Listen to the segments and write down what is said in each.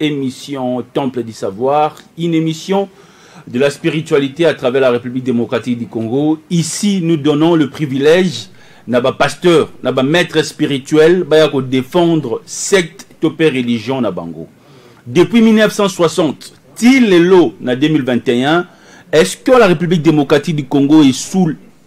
Émission Temple du Savoir, une émission de la spiritualité à travers la République démocratique du Congo. Ici, nous donnons le privilège na ba pasteur na ba maître spirituel baya ko défendre secte to pe religion na bango depuis 1960 ti lelo na 2021 est-ce que la république démocratique du congo est sous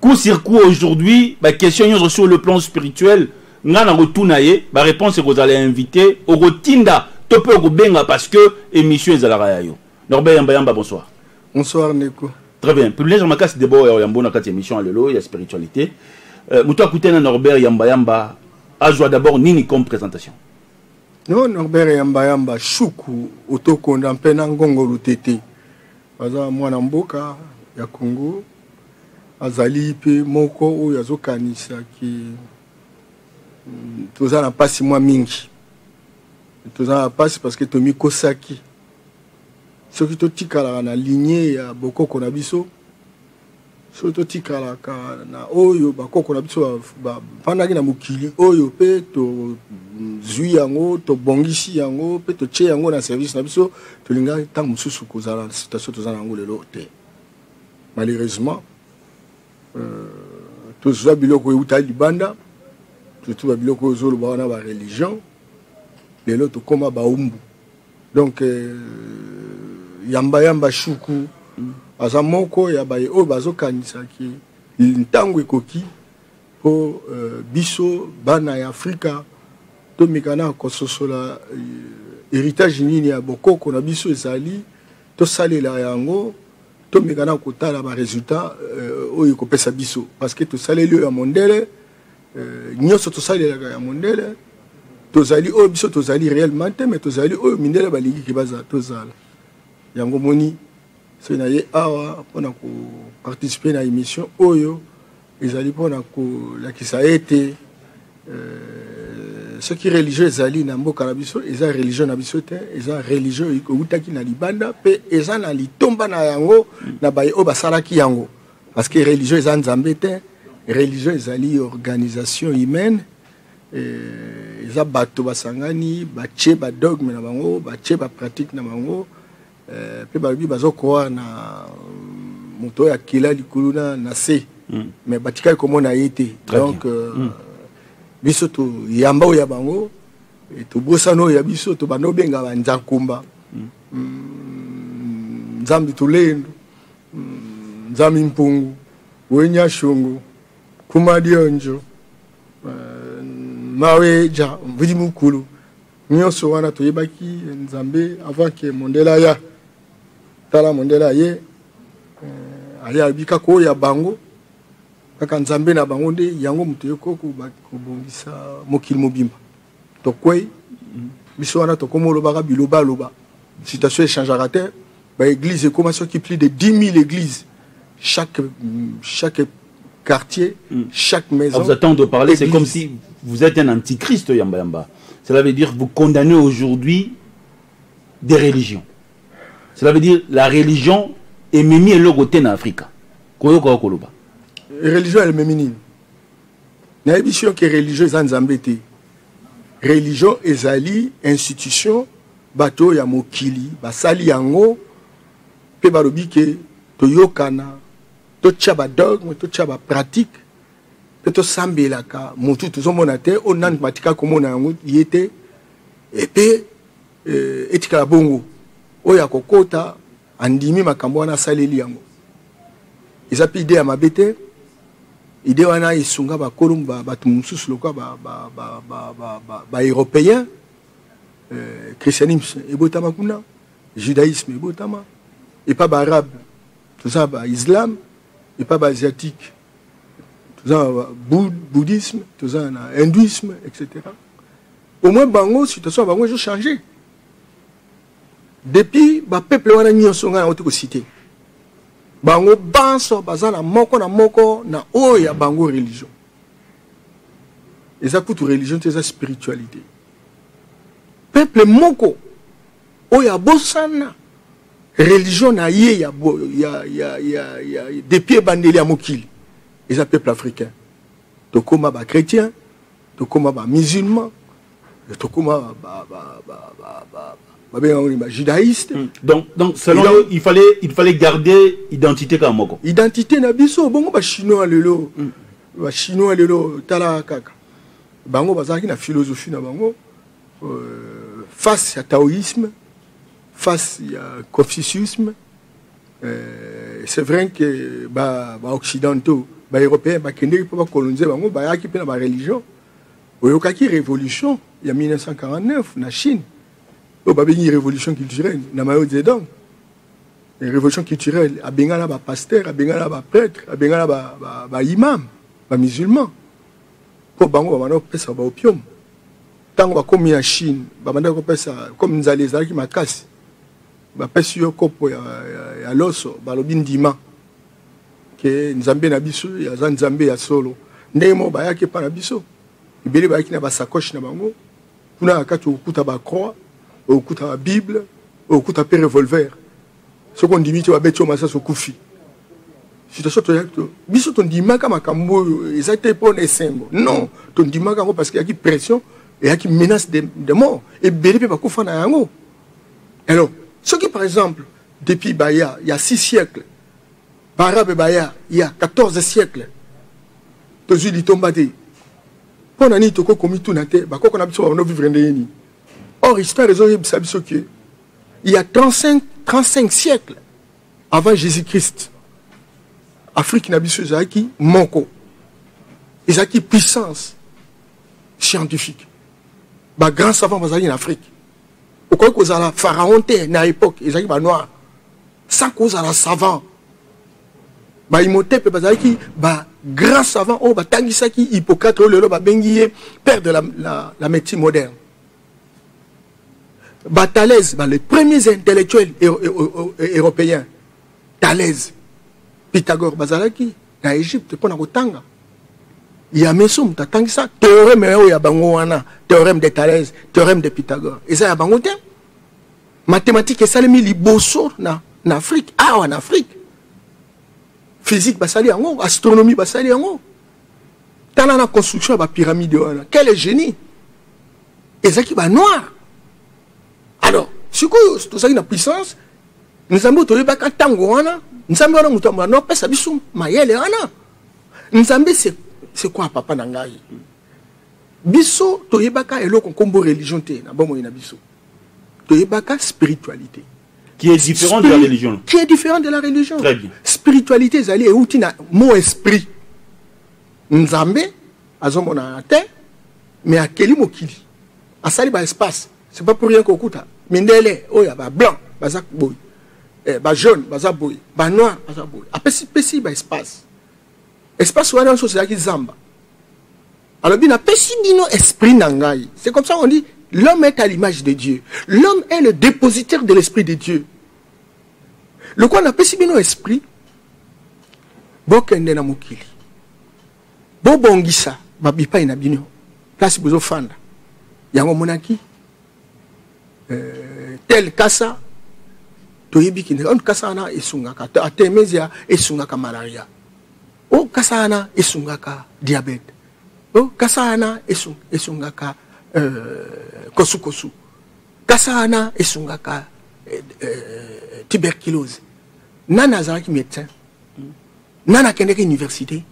coup sur coup aujourd'hui ba question nyonso sur le plan spirituel nga na kotuna ye ba réponse ekozala ya invité okotinda to mpe okobenga parce que émission ezalaka ya yo norbe yamba yamba bonsoir bonsoir ndeko très bien privilège ya makasi debord ya yambo na kati ya émission ya lelo ya spiritualité euh, moto akutani na norbert yamba yamba azwa d'abord nini comme présentation no norbert yamba yamba shuku otokonda mpe na ngongo lutete aza mwana mboka ya Congo azali pe moko oyo azokanisa ke mm, toza na mpasi mwa mingi toza na mpasi parce que tomikosaki soki totikalaka na ligne ya bokoko na biso soki totikalaka na oyo bakoko na biso bafandaki na mokili oyo mpe tozwi yango tobongisi yango mpe totye yango na service na biso tolingaki ntango mosusu kozala na situation toza na yango lelo te malheureusement euh, tozwa biloko eutali libanda surtout babiloko oyo ozoloba wana bareligion lelo tokóma baumbu donc euh, yamba yamba shuku mm. aza moko ya baye oyo bazokanisa ki ntango ekoki mpo euh, biso bana ya afrika tomekana kososola euh, héritage nini ya bokoko na biso ezali tosalela yango tomekana kotala baresultat euh, oyo ekopesa biso parce que tosaleli oyo ya mondele euh, nyonso tosalelaka ya mondele tozali oyo biso tozali réellement te mais tozali oyo mindele balingi ke tozala yango moni soki naye awa mpona koparticipe na émission oyo ezali mpona kolakisa ete euh, soki religion ezali na mboka na biso eza religion na biso te eza religion ewutaki na libanda mpe eza na litomba na yango na baye oyo basalaki yango parce que religion eza nzambe te religion ezali organisation humaine eh, eza bato basangani batie badogme na bango batie bapratique na bango eh, mpe balobi bazokoar na mm, moto oyo akela likulu na, na se mm. mais batikali komona ye te donc euh, mm. biso toyamba oyo ya bango eh, tobosana oyo ya biso tobanda obenga banzankumba mm. mm, nzambe tolendu Nzami Mpungu, Wenya Shungu, Kuma Dionjo, euh, Maweja, Mvidi Mukulu, nyonso wana toyebaki Nzambe avant que Mondela ya tala Mondela ye euh, aya abika ko ya bango kaka Nzambe na bango nde yango moto yoko kobongisa mokili mobimba. tokwei biso wana tokoma olobaka bilobaloba situation echangaka te baeglise ekoma soki plus de 10 000 église chaque, chaque quartier mm. chaque maison ah, vous attendez de parler c'est comme si vous êtes un antichrist yamba yamba cela veut dire vous condamnez aujourd'hui des religions cela veut dire la religion ememi eloko te na afrika koyoka okoloba religion ememi nini nayebisi yo ke religion eza nzambe te religion ezali institution bato oyo ya mokili basali yango mpe balobi ke toyokana totya badogme totya bapratike mpe tosambelaka motu tozomona te oyo nani batika komona yango ye te epe eh, etikala bongo oyo akokota andimi makambo wana asaleli yango eza mpe ide ya mabe te ide wana esunga bakolo bato mosusu lokola baeuropéen euh, christianisme ebotama kuna judaïsme ebotama epa baarabe toza baislam epa baasiatique toza na bouddhisme toza na hindouisme etc au moins bango situation ya bango ezochange Depuis ba peuple wana nyonso ngai nauti kosite bango banso baza na moko na moko na oyo ya bango religion eza kutu religion te eza spiritualité peuple moko oyo abosana religion na ye ya, ya, ya, ya, ya depuis ebandeli ya mokili eza peuple africain tokoma ba chrétien tokoma ba musulman tokoma babengango ba judaïste hmm. donc, donc selon donc, il fallait il fallait garder identité kaka moko identité na biso bongo bachinois lelo mm. bachinois lelo tala kaka bango bazalaki na philosophie na bango euh, face ya taoïsme face ya confuciusme Euh, c'est vrai que ba, ba occidentaux ba européens bakendeki mpo bakolonise bango bayaki mpe na bareligion oyokaki révolution ya 1949 na chine oyo babengi révolution culturelle na mayo zedong révolution culturelle abengana bapasteur abengana baprêtre abengana baimam bamusulman mpo bango babanda kopesa baopium ntango bakomi na chine babandaki kopesa comme nzala ezalaki makasi bapesi yo kopo ya, ya, ya loso balobi ndima ke nzambe na biso aza nzambe ya solo ndenge moko bayaki epa na biso ebele bayaki na basakoche na bango kuna na kati okokuta bacroix okokuta babible okokuta mpe revolver soki ondimi te babeti yo masasi okufi situation toyaki to biso tondimaka makambo oyo eza te mpo na esengo non tondimaka yango parce que eyaki pression eyaki menace de, de mort ebele mpe bakufa na yango alors soki par exemple depuis baya ya 6 siècle baarabe baya ya 14 siècle tozwi litomba te mpo na nini tokoki komituna te bakoko na biso babando vivre ndenge nini or histoire ezoyebisa biso ke il y a 35, 35 siècle avant jésus christ afrique na biso ezalaki moko ezalaki puissance scientifique bagrand savant bazalaki na afrique okoki kozala pharaon te na époque ezalaki banoir sans kozala savant baimotepe bazalaki ba grand savant oyo batangisaki hippocrate oyo lelo babengi ye père de la, la, la médecine moderne batalaise ba les premiers intellectuels européens talaise pythagore bazalaki na egypte mpo na kotanga ya meso moto atangisa théorème oyo ya bango wana théorème de thalès théorème de pythagore eza ya bango te mathématique esalemi liboso na, na afrique awa na afrique physique basali yango astronomie basali yango tala na construction ya bapyramide wana quel est génie ezalaki banoir alors sikoyo tozalaki na puissance nzambe oyo toyebaka ntango wana nzambe wana moto yambo anopesa biso mayele wana nzambe sekwa papa na ngai biso toyebaka eloko nkombo religion te na bomoi na biso toyebaka spiritualité qui est différent Spiri de la religion qui est différent de la religion Très bien. spiritualité ezali euti na mot esprit nzambe azomonana te mais akeli mokili asali ba espace c'est pas pour rien kokuta mindele oyo ya ba blanc baza boye eh, ba jaune baza boye ba noir baza boye apesi pesi ba espace espace wana nyonso ezalaki zamba alobi napesi bino esprit na ngai c'est comme ça on dit l'homme est à l'image de dieu l'homme est le dépositaire de l'esprit de dieu lokola napesi bino esprit bokende na mokili bobongisa ba bipai na bino place bozo fanda yango monaki euh, tel kasa toyebi kende on kasa wana esungaka atemesia esungaka malaria o oh, kasa wana esungaka diabete o oh, kasa wana esungaka euh, kosukosu kasa wana esungaka euh, euh, tuberculose nani azalaki médecin nani akendeki université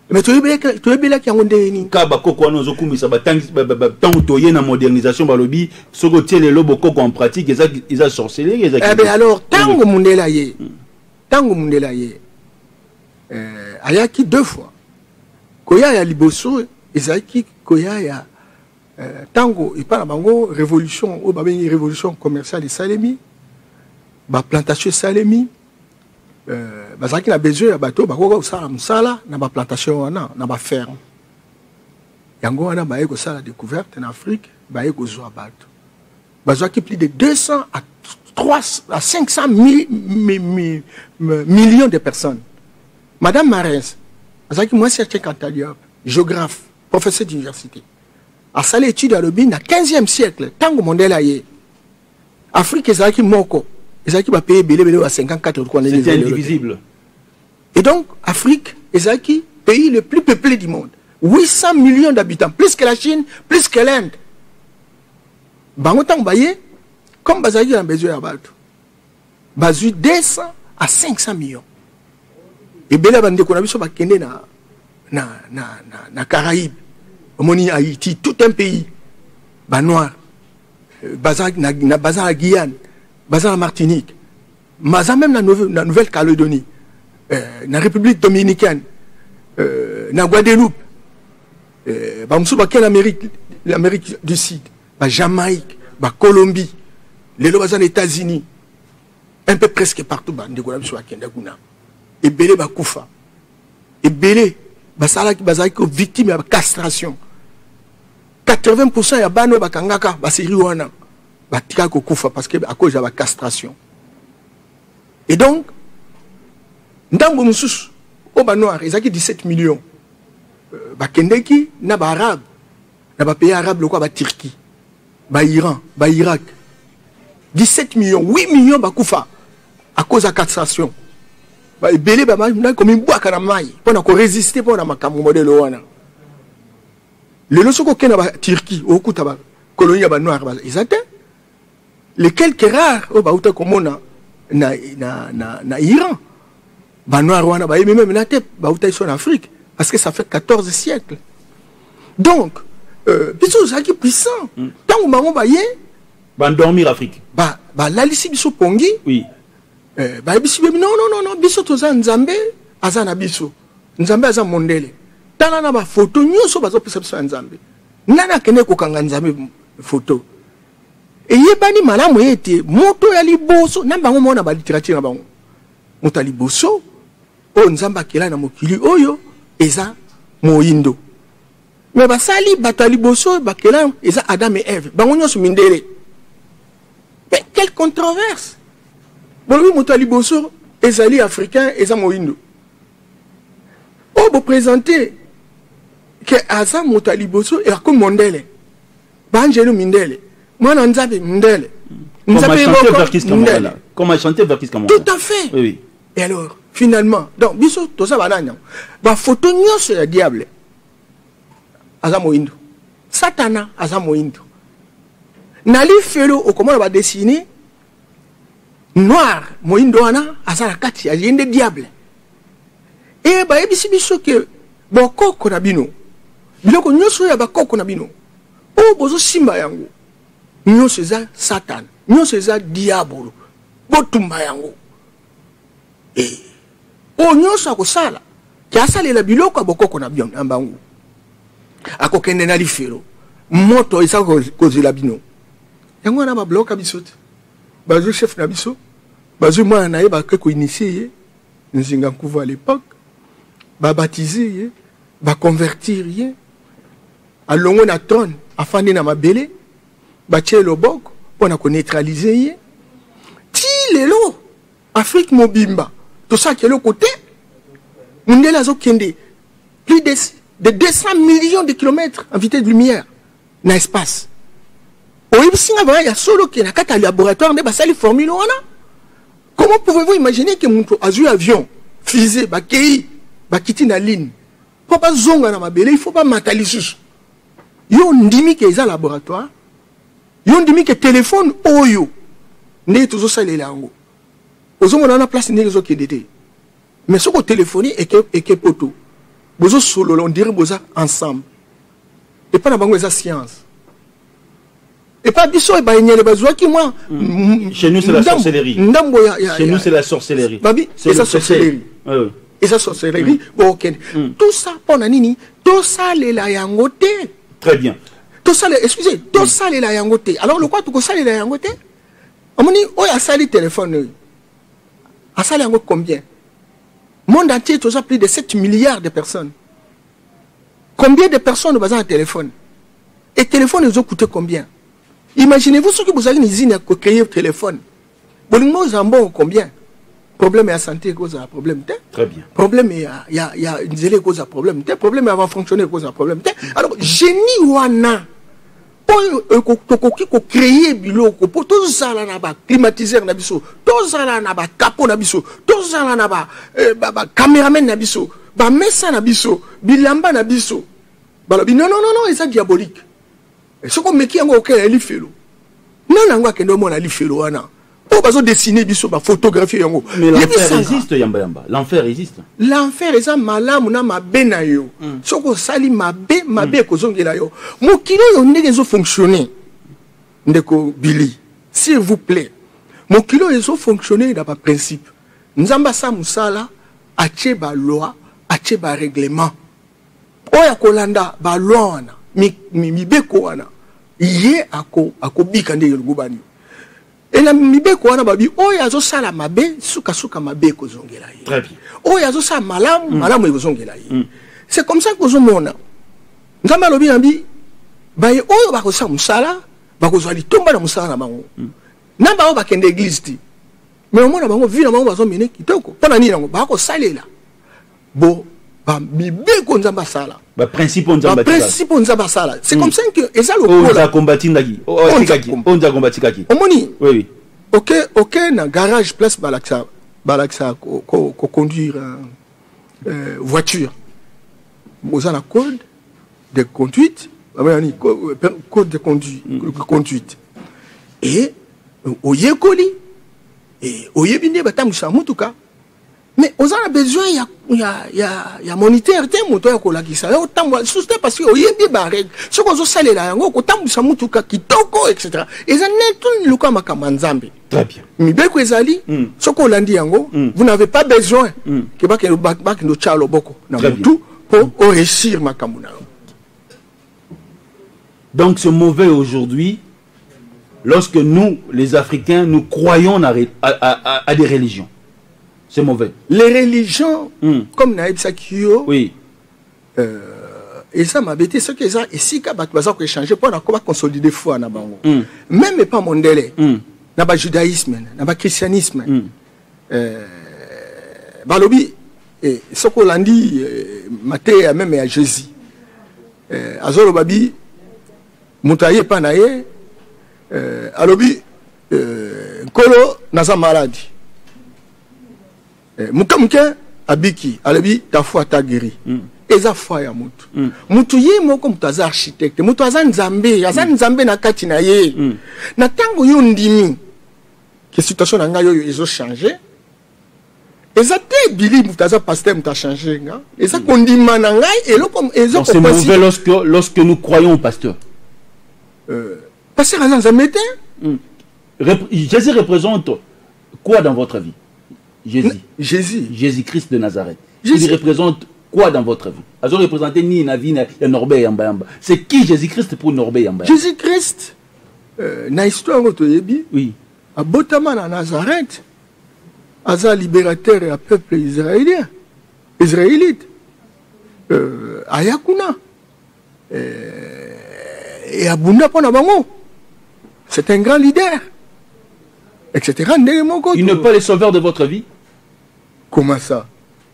me toyebelaki yango ndenge nini ka bakoko wana ozokumisa ntango toye na modernisation balobi soki otie lelo bokoko en pratique eza sorcellerie eza eh alors ntango mondele aye ntango hmm. mondele aye eh, ayaki deux fois koya ya liboso ezalaki koya ya ntango eh, epai na bango révolution oyo babengi révolution commerciale esalemi baplantation esalemi Euh, bazalaki na besoin ya bato bakoki kosala mosala na baplantation wana na baferme yango wana baye kosala découverte na afrique baye kozwa bato bazwaki plus de 200 à 3 à 500 mi, mi, mi, millions de personnes madame marins azalaki mwasi ya chekantaliope géographe professeur d'université asali étude alobi na 15e siècle ntango mondele aye Afrique ezalaki moko ezalaki bapays ebele ebele ba 54 wana c'était indivisible et donc Afrique ezalaki pays le plus peuplé du monde 800 millions d'habitants plus que la Chine plus que l'Inde bango ntango baye comme bazalaki na besoin ya bato bazwi 200 à 500 millions ebele ya bandeko na biso bakende na, na, na, na, na caraïbe omoni haïti tout un pays banoir euh, baza na, na, baza na guyane baza na martinique baza même na, na nouvelle calédonie euh, na république dominicaine euh, na guadeloupe euh, bamosusu bakei na amérique l'amérique du sud ba Jamaïque, ba Colombie, les lobes aux États-Unis, un peu presque partout, bah, de Golam soit Kenda Guna, et Belé Bakoufa, et Belé, bah, ça là qui basait que victime de castration. 80% ya bano ba kangaka ba seri wana ba tika ko kufa parce que à cause ya ba castration et donc ndambo mususu o ba noir ezaki 17 millions euh, ba kendeki na ba arabe na ba pays arabe lokola ba Turquie ba Iran ba Irak 17 millions 8 millions bakufa à cause ya castration ba ebele ba na komi bwaka na mai mpo na ko résister mpo na makambo modèle wana lelo soki okenda ba Turquie okuta ba colonie ya ba noir eza te les quelques rares oyo bauta komona na, na, na, na iran banoir wana bayebi meme na te bautaki so na afrique parce que ça fait 14 siècle donc euh, biso ozalaki puissant ntango mm. bango baye bandormir afrique balalisi ba biso pongi oui. euh, bayebisi bebi non non non biso toza nzambe aza na biso nzambe aza mondele tala na bafoto nyonso bazopesa biso ya nzambe nani akende kokanga nzambe foto eyebani malamu ete moto ya liboso na bango moko na baliterature na bango moto ya liboso oyo nzambe akela na mokili oyo eza moindo me basali bato ya liboso oyo bakela eza adam e eve bango nyonso mindele me quelle controverse bolobi moto ya liboso ezali africain eza moindo oyo bopresente ke aza moto ya liboso akomi mondele Banjelu mindele. Mwana Nzabe mindele. Comme a chanté Verkis Kamala. Comme a chanté Verkis Kamala. Tout à fait. Oui, oui. Et alors, finalement, donc, biso, tout ça, banana. Ba photo nyonso ya diable. Aza moindo. Satana aza moindo. Na lifelo okomona ba dessiner noir moyindo wana aza na kati ya ye nde diable e bayebisi biso ke bokoko na bino biloko nyonso oyo ya bakoko na bino oyo bozosimba yango nyonso eza satana nyonso eza diabolo botumba yango eh. oyo nyonso akosala te asalela biloko ya bokoko na bino na bango akokende na lifelo moto eza kozela bino yango wana babloka biso te bazwi chef na biso bazwi mwana na ye bakoki koinitie ye nzinga nkuvu à l'époque babatize ye baconvertir ye alongwe na trone afandi na mabele batye loboko mpo na koneutralize ye ti lelo afrique mobimba tosalaki eloko te mundele azokende plus de, de 200 millions de kilomètres en vitesse de lumière na espace oyebisi nga vraimen ya solo ke na kati ya laboratoire nde basali formule wana comment pouvez-vous imaginer ke moto azwi avion fusée bakei bakiti na ligne mpo bazonga na mabele il faut bamata lisusu yo ondimi ke eza laboratoire yo ondimi ke telefone oyo ndenge tozosalela yango ozomona wana place ndenge ezokende te mais soki otelefoni eke, eke poto bozosolola ondire boza ensemble epai na bango eza science epa biso e baenyele bazwaki mwa mm. ndambo yababi eza sorcellerie eza sorcellerie bokende tout ça mpo na nini tosalela yango te très bien tosala excuse tosalela yango te alors lokola tokosalela yango te omoni oyo asali telefone oyo asali yango combien monde entier toza plus de 7 milliards de personnes combien de personnes baza na telefone e telefone ezocoute combien imaginez-vous soki bozali na izine ya kocreye telefone bolingo ozala mbongo combien problème ya santé ekozala problème te très bien problème ya ya ya nzela ekozala problème te problème ya bafonctionne ekozala problème te alors génie wana oyo euh, tokoki kocreye biloko mpo tozala na baclimatiseur na biso tozala na bakapo na biso tozala na bacameraman euh, na biso bamesa na biso bilamba na biso balobi non non non non eza diabolique eh, soki omeki yango okela lifelo nani yango akende omona lifelo wana oyo bazo dessine biso bafotographie yango l'enfer eza malamu na mabe na yo hmm. soki osali mabe mabe hmm. ekozongela yo mokili oyo ndenge ezofonctionne ndeko billy s'il vous plaît mokili oyo ezofonctionne na baprincipe nzambe asa mosala atie baloi atie barèglement oyo akolanda balwa wana mibeko wana ye akobika ndenge elongobani ena mibeko wana babi oyo azosala mabe sukasuka mabe ekozongela ye oyo azosala malamu mm. malamu ekozongela ye mm. c'est comme ça kozomona nzambe alobi na bi baye oyo bakosala mosala bakozwa litomba na mosala na bango mm. na bango bakende eglize te me omona bango vi na bango bazomene kitoko mpo na nini yango bakosalela bo ba mibeko nzambe asala ba principe nzambe ba principe nzambe asala c'est comme hmm. ça que eza lokola oza combattre ndaki otikaki onza combattre kaki omoni oui oui OK OK na garage place balakisa balakisa ko, ko, ko conduire euh, euh voiture boza na code de conduite babayani euh, code de conduite, mm. conduite. et euh, oyekoli e oyebi nde batambwisa motuka mais oza na besoin ya, ya, ya, ya moniteur te moto ya kolakisa yo otambola lisusu te parce que oyebi barègle soki ozosalela yango okotambwisa motuka kitoko etc eza neti lokola makambo ya nzambe très bien mibeko ezali mm. soki olandi yango mm. vous n'avez pas besoin mm. ke bakende otya loboko na motu mpo mm. oresir makambo na yo donc ce mauvais aujourd'hui Lorsque nous, les Africains, nous croyons à, à, à, à des religions, c'est mauvais. Les religions, mm. comme Naïbsa Kyo, oui. euh, eza mabe te soki eza esika bato baza koechange mpo na koba consolide foi na bango mm. meme epa mondele mm. na bajudaïsme na bachristianisme mm. euh, balobi eh, soki olandi eh, mateya meme ya jésus eh, azoloba bi moto aye epai na ye eh, alobi eh, nkolo naza maladi eh, moke moke abiki alobi ta foi ta guéri mm. eza foi ya motu mm. motu ye moko moto aza architecte moto aza nzambe aza mm. nzambe na kati na ye mm. na ntango yo ndimi ke situation na ngai oyo ezo change eza te bili moto aza pasteur moto achange nga eza mm. kondima na ngai eloko ezokopasi c'est mauvais lorsque, lorsque nous croyons au pasteur euh, pasteur aza nzambe te mm. jésus représente quoi dans votre vie jésus jésus jésus christ de nazareth jésus. il représente quoi dans votre vie azo représenter ni na vie ya norbe yamba yamba c'est qui jésus christ pour norbe yamba jésus christ euh, na histoire oyo toyebi oui abotama na nazareth aza liberateur ya peuple israélien israélite euh, aya kuna euh, e abunda mpo na bango c'est un grand leader etc ndenge moko il n'est pas le sauveur de votre vie comment ça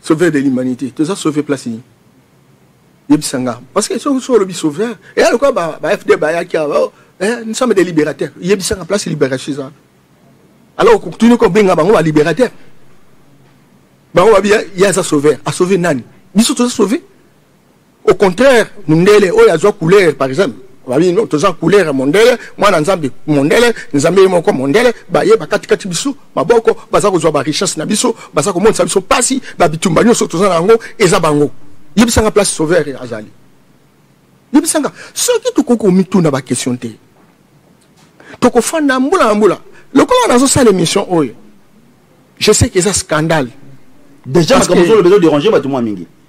sauveur de l'humanité toza sauve place nini yebisa nga parce que soki olobi sauveur eya lokola bafd bayaki oh, eh, nous sommes des libérateurs yebisa nga place libération eza alors okutuni kobenga bango balibérateur bango babi ye aza sauveur asauve nani biso toza sauve au contraire mundele oyo oh, azwa couleur par exemple babi no toza couleur ya mondele mwana nzambe mondele nzambe ye moko mondele baye bakatikati biso maboko baza kozwa barichesse na biso baza komonisa biso mpasi babitumba nyonso toza na yango eza bango yebisanga place sauveur azali yebisanga soki tokoki komituna baquestion te tokofanda mbula na mbula lokola nazosala émission oyo je sais que eza scandale déjà makambo ozoloba ezoderange bato mwa mingi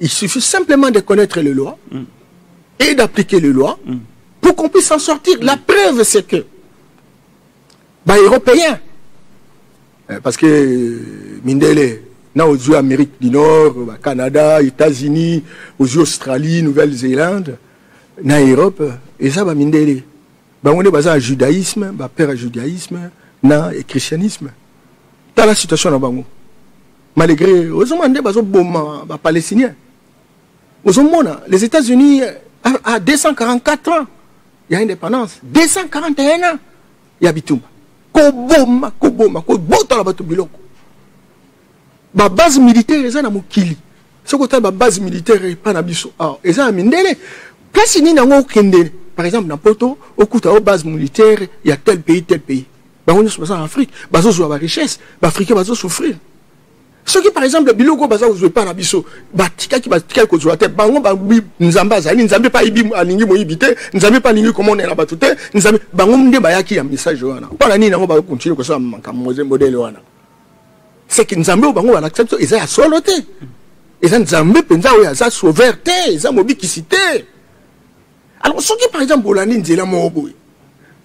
Il suffit simplement de connaître les lois mm. et d'appliquer les lois mm. pour qu'on puisse en sortir. Mm. La preuve, c'est que, bah, Européens, eh, parce que euh, Mindele, na ozwi amérique du nord bah, canada états-unis ozwi australie nouvelle-zélande na europe eza bamindele bango nde baza na judaïsme bapère ya judaïsme na christianisme tala situation na bango malgré ozomona nde bazoboma bapalestinien ozomona les états-unis à 244 ans ya indépendance 241 ans ya bitumba koboma koboma kobotola bato biloko babase militaire eza na mokili soki otali babase militaire epai na biso awa eza ya mindele place nini yango okende par exemple na poto okuta o base militaire ya tel pays tel pays bango nyonso baza na afrique bazozwa barichesse baafricain bazosouffrir soki par exemple biloko oyo baza kozwa epai na biso batikaki batikaki kozwa te bango babi nzambe azali nzambe mpe ayibi alingi moyibi te nzambe mpe alingi komonela bato te nzambe bango nde bayaki ya message wana mpo na nini yango bakontinue kosala makambo moze modele wana seke nzambe oyo bango balakisa biso eza ya solo te eza nzambe mpenza oyo aza sauveur te eza mobikisi te alors soki par exemple olandi nzela moko boye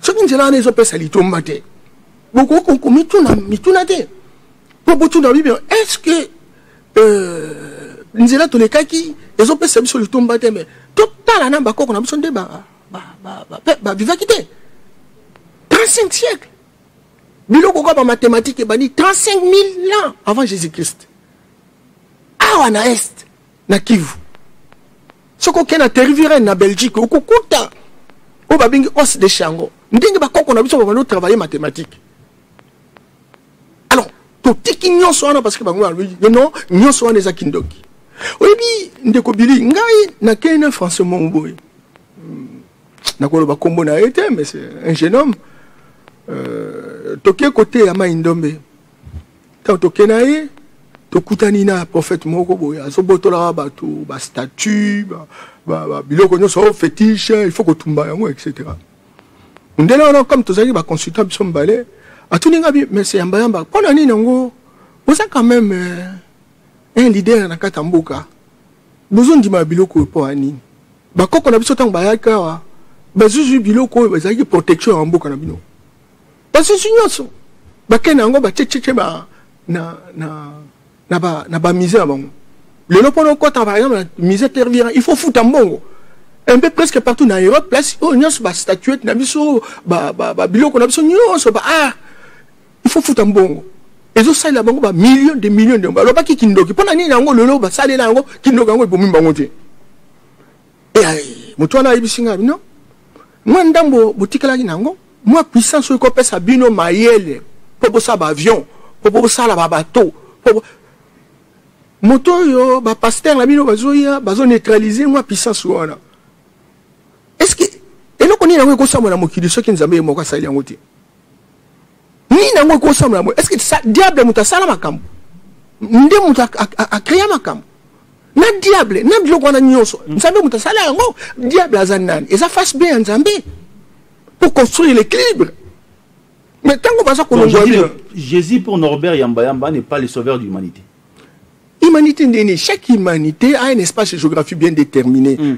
soki nzela wana ezopesa litomba te bokoki komituna mituna te mpo botuna bibi est ce que euh, nzela tolekaki ezopesa biso litomba te mais totala na bakoko na biso nde bavivaki te 35 siècle biloko kaka bamathématique ebandi 35 000 ans avant jésus christ awa na est na kivu soki okei na terrivirene na belgique okokuta oyo babengi os de chango ndenge bakoko na biso babandi otravaille mathématique alors totiki nyonso wana parce que bango balobi non nyonso wana eza kindoki oyebi ndeko bili ngai nakei na français mongo boye hmm, nakoloba nkombo na ye te mais un jeune homme euh, toke koteya mai ndombe ntango toke na ye tokutani na prophète moko boye azobotolaka bato bastatut biloko nyonso oh, fétiche il faut kotumba yango etc mundele wana comme tozalaki baconsultant biso mibale atuni nga mese yambayamba mpo na nini yango boza quand même euh, un leader na kati ya mboka bozondima biloko oyo mpo ya nini bakoko na biso ntango bayaki awa bazuzwi biloko oyo bazalaki protection ya mboka na bino basusu nyonso bakei na yango batietieti ba na, na, na, ba, na bamise na bango lelo mpona okota par exemple na mise tervira il faut futa mbongo un peu presque partout na europe place oyo nyonso bastatuete na biso babiloko na biso nyonso ba ah, il faut futa mbongo ezosalela bango bamillion de million de balobaki kindoki mpo na nini yango lelo basalela yango kindoki yango ebomi bango te moto wana ayebisi ngai bino mwa ndambo botikelaki na yango mwa puissance oyo ekopesa bino mayele mpo bosala baavion mpo bosala babato mpo moto oyo bapaster na bino bazoya bazoneutralize mwa puissance wana estce eloko nini yango ekosambwa na mokili soki nzambe ye moko asali yango te nini yango ekosambela boye estce que diable moto asala makambo nde moto akrea makambo na diable na biloko wana nyonso mm. nzambe moto asala yango diable aza nani eza face be ya nzambe pour construire l'équilibre mais ntango baza kolongwa jésus pour norbert yambayamba n'est pas le sauveur de l'humanité humanité nde nini chaque humanité a un espace géographique bien déterminé mm.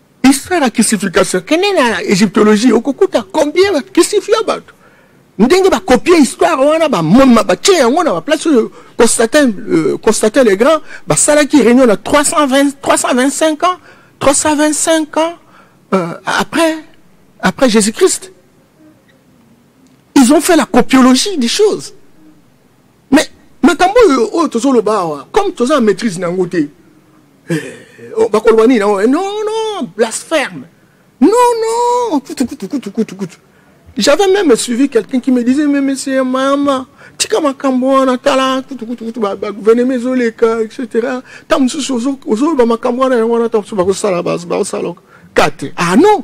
histoire ya kisification kende na egyptologie okokuta combien bakisifia bato ndenge bakopie histoire wana bamoma batie yango na baplace oyo constatin euh, constatin le grand basalaki réunion na 320, 325 ans 325 ans euh, après après jésus christ ils ont fait la copiologie des choses mais makambo oyo oyo tozoloba awa comme toza na maîtrise na yango te eh, oh, bakoloba nini yango eh, non non blasphème non non kutu kutu kutu kutu kutu j'avais même suivi quelqu'un qui me disait mais monsieur mama tika makambo wana tala kutu kutu kutu bagouvernement ezoleka etc ntango mosusu ozoloba makambo wana yango wana ntango mosusu bakosala bakosala kate ah non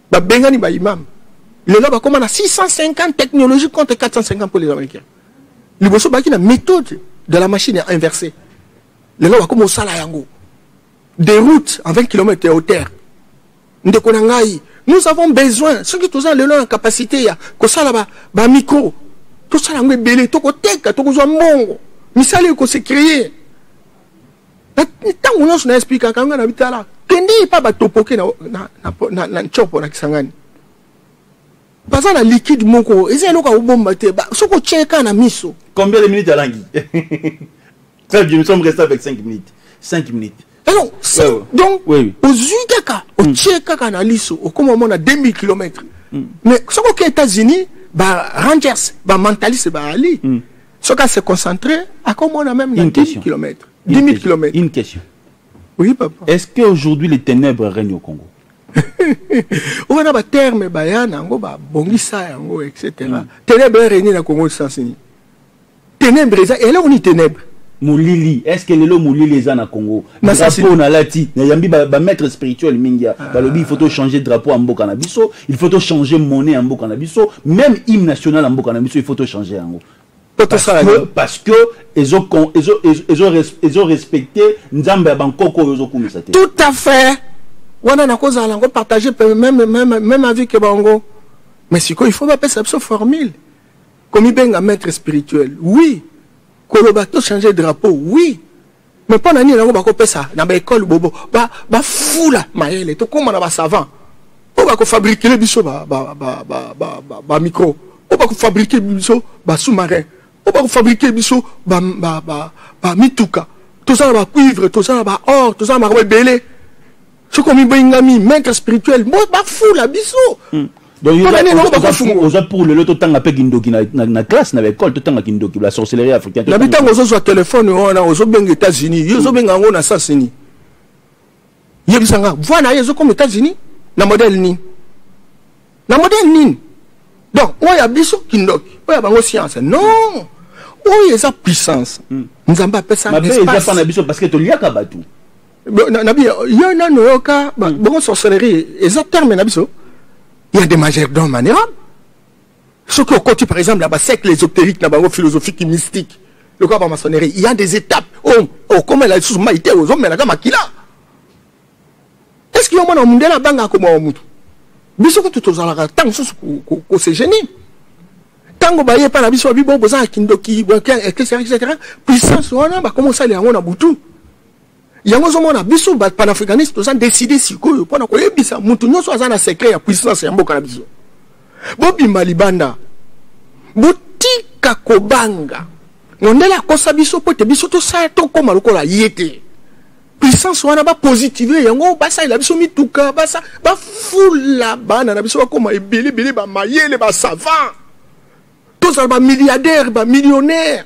babengani ba imam lelo bakoma na 650 technologie contre 450 pour les américains liboso baki na méthode de la machine ya inversé lelo bakoma osala yango des routes en 20 km ya hauteur ndeko na ngai nous avons besoin soki toza lelo na capacité ya kosala ba, ba micro tosala yango ebele tokoteka tokozwa mbongo misala ekose créer ntango nyonso na esplikaka ngai na bitala kende epa batopoke na, na, na, na, na ncopo na kisangani baza na liquide moko eza eloko akobomba te soki otye kaka na miso combien de minutes alangi très bien nous sommes restés avec 5 minutes 5 minutes alors ouais, donc oui. ozwi kaka mm. otye kaka na liso okoma omona 2000 km mm. mais soki oke états-unis ba rangers ba mentaliste baali mm. soki ase concentre akomona meme na 10 km 10 000 km une question oui papa est-ce que aujourd'hui les ténèbres règnent au Congo oyo wana baterme baya na yango babongisa yango etc mm. ténèbre erenie na congo sens nini ténèbre eza eloko nini ténèbre molili est ce que lelo molili eza na congo drapeau nalati nayambi bamaître spirituel mingi ah. balobi il faut tochange drapeau ya mboka na biso il faut tochange monnaie ya mboka na biso même hymne national ya mboka na biso il faut tochange yango parce que ezo respecte nzambe ya bankoko oyo ozokumisa te tout à fait wana nakozala yango partage même, même, même avis ke bango mais sikoyo il faut bapesa biso formule komibenga maître spirituel oui koloba tochange drapeau oui Mais pona nini nango bako pesa na ba école bobo ba ba fula mayele to koma na ba savant. Po bako fabriquer biso ba ba ba ba ba, ba, ba micro. Po bako fabriquer biso ba sous-marin. Po bako fabriquer biso ba ba ba, ba mituka. Tozala ba cuivre, tozala ba or, tozala makambo ebele. soki omibengami maître spirituel bafula biso hmm. oza pour lelo totanga mpe kindoki na classe na baekole totanga kindoki la sorcellerie africaine na bitango ozozwa telefone wana ozobenga états-unis yo ozobenga yango na sens nini yebisa nga voi na ye ezokoma états-unis na modèle nini na modèle nini donc oyo ya biso kindoki oyo ya bango science non oyo eza puissance hmm. nzambe apesa mabe eza mpa na biso parce que toliaka bato nabi yo nano yoka hmm. bongo sorcellerie eza terme na biso ya de majordome manera soki okoti par exemple na bacercle ésotérique na bango philosophique mystique lokola bamaçonnerie ya des étapes oyo oh, okomela lisusu mai te ozomelaka makila est ce que yo mwana mondele abangaka komawa motu biso kutu tozalaka ntango mosusu kosegenie ko, ko ntango baye epai na biso babi bo bozalaka kindoki etc etc puissance wana bakoma osala yango na butu yango ozomona biso ba panafricaniste toza décide sikoyo mpo na koyebisa moto nyonso aza na secret ya puissance ya mboka na biso bobima libanda botika kobanga mondele akosa biso mpo te biso tosala tokóma lokola ye te puissance wana bapositive yango basalela biso mituka basa bafula bana na biso bakóma ebele ebele bamayele basavant tozala bamilliardaire bamillionnaire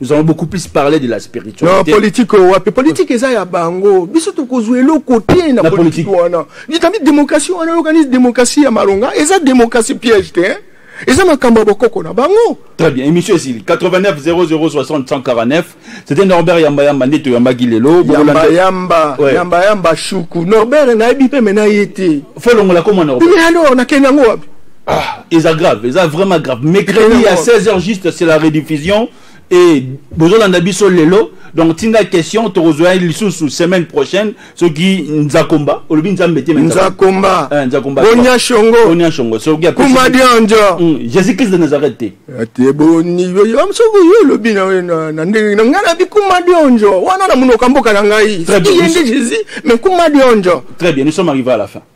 nous avons beaucoup plus parlé de la spiritualité. Non, politique euh, wapi politique eza ya bango. Biso tokozwa eloko te na politique wana. Likambi démocratie wana organise démocratie ya malonga eza démocratie piège te. Hein? eza makambo ya bokoko na bango très bien émission esili 89 0060 149 c'était norbert yamba yamba nde toyambaki lelo yamba yamba yamba shuku norbert nayebi mpe me na ye te folongola koma norbert alors nakende yango wapi Ah, eza grave, eza vraiment grave. Mercredi à 16h juste, c'est la rediffusion. Et bozolanda biso lelo. Donc tinda question tokozwa lisusu semaine prochaine soki Nzakomba, olobi Nzambe te Nzakomba. Eh, Nzakomba. Bonya Shongo. Bonya Shongo. Soki ya Kuma Dionjo. Hmm, Jésus-Christ de Nazareth te. Ate eh, boni yo yo msoko yo olobi na na na ndenge na ngana bi Kuma Dionjo. Wana na munoko mboka na ngai. Très bien. Jésus, mais Kuma Dionjo. Très bien, nous sommes arrivés à la fin.